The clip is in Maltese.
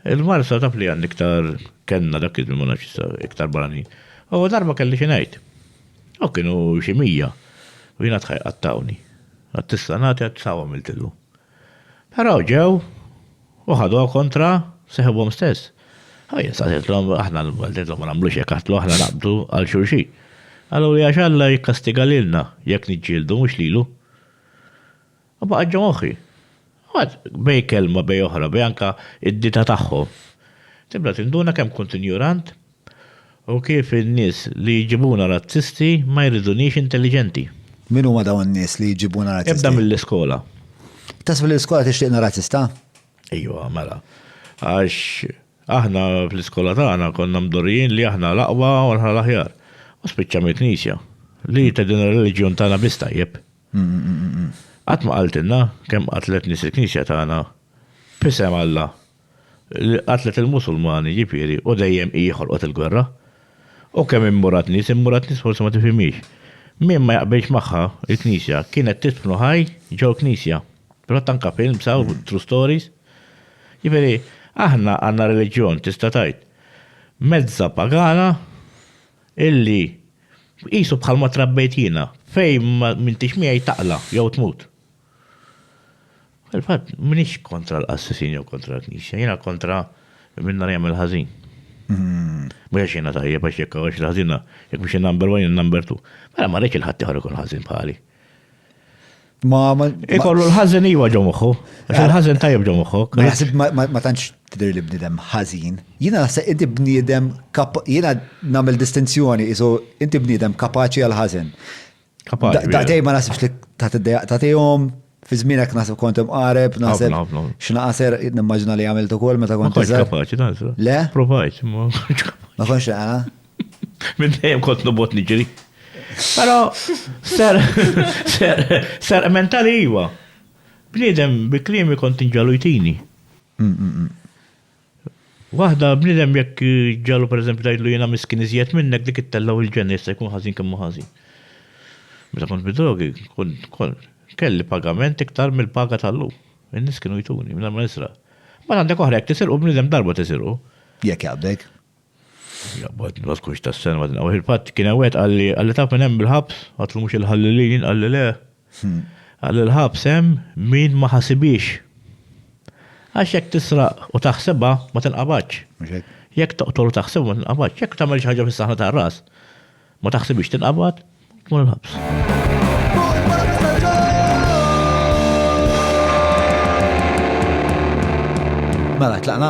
Il-Marsa taf li għandi iktar kenna dak iż-żmien ma nafx issa iktar barranin. U darba kelli xi ngħid. U kienu xi mija. U jiena tħaj qattawni. Għad tista' nagħti għad saw għamiltillu. Però ġew u ħaduha kontra seħibhom stess. U jien staqsejtlhom aħna l-Maltin ma nagħmlux hekk għatlu aħna naqbdu għal xulxin. Qaluli għax Alla jikkastiga lilna jekk niġġieldu mhux lilu. U baqgħet ġo moħħi. Mbagħad bej kelma bej oħra, bej anke d-dita tagħhom, tibda tinduna kemm kont injorant u kif in-nies li jġibuna razzisti ma jridunix intelliġenti. Min huma dawn in-nies li jġibuna razzisti? Ibda mill-iskola. Taħseb li l-iskola tixtieqna razzista? Ejwa, mela. Għax aħna fl-iskola tagħna konna mdorrijin li aħna l-aqwa u aħna l-aħjar. U spiċċa mill-Knisja li tgħidilna r-reliġjon tagħna biss tajjeb. Qatt ma qaltilna kemm qatlet nies il-Knisja tagħna b'isem Alla, li qatlet il-Musulmani, jiġifieri, u dejjem hi ħolqot il-gwerra. U kemm immurat nies, immurat nies forsi ma tifhimhiex. Min ma jaqbilx magħha, il-Knisja, kienet tidfnu ħaj ġol-Knisja. Fil-fatt anke films hawn, true stories. Jiġifieri, aħna għandna reliġjon tista' tgħid mezzha pagana, Illi, qisu bħalma trabbejt jiena, fejn m'intix miegħi taqla' jew tmut. Fil-fatt, m'iniex kontra l-qassisin jew kontra l-Knisja, jiena kontra min ara jagħmel ħażin. Mhux għax jiena tajjeb, għax jekk hawn xi ħażina, jekk mhux in-number one, in-number two. Mela ma rridx li ħaddieħor ikun ħażin bħali. Ma ma. Ikollu l-ħażin iwa ġo moħħu. Il-ħażin tajjeb ġo moħħu. Ma naħseb ma tantx tidher li bniedem ħażin. Jiena naħseb inti bniedem jiena nagħmel distinzjoni isu inti bniedem kapaċi għal ħażin. Kapaċi. Daqtej ma naħsibx li tagħtihom fi żmienek naħseb kont imqareb, naħseb x'naqaser nimmaġina li għamilt ukoll meta kont. Kapaċi naħseb. Le? Provajt, ma konx. Ma konx Minn dejjem kont nobot niġri. Però ser ser ser mentali iva. Bniedem bi kliemi kont inġalu jtini. Mm, mm, mm. Waħda bniedem jekk ġalu pereżempju tgħidlu jiena miskin iżjed minnek dik ittellaw il-ġenna jista' jkun ħażin kemm hu ħażin. Meta kont bidrogi, kont kont kelli pagament iktar mill-paga tal-lum. In-nies kienu jtuni minn ma nisra. Ma għandek oħra jekk tisirqu bniedem darba tisirqu. Jekk jaqbdek. Jaqbad, ma tkunx tas-sena, ma tinqawx il-patt. Kien hemm wieħed qalli, qalli taf minn hemm il-ħabs, għatlu mhux il-ħallilin, qalli le. Qalli l-ħabs hemm min ma ħasibhiex. Għax jekk tisraq u taħsibha, ma tinqabadx. Jekk toqtol u taħsibha, ma tinqabadx. Jekk tagħmel xi ħaġa fis-saħħna tar-ras, ma taħsibhiex tinqabad, tmur il-ħabs. Mela, tlaqna?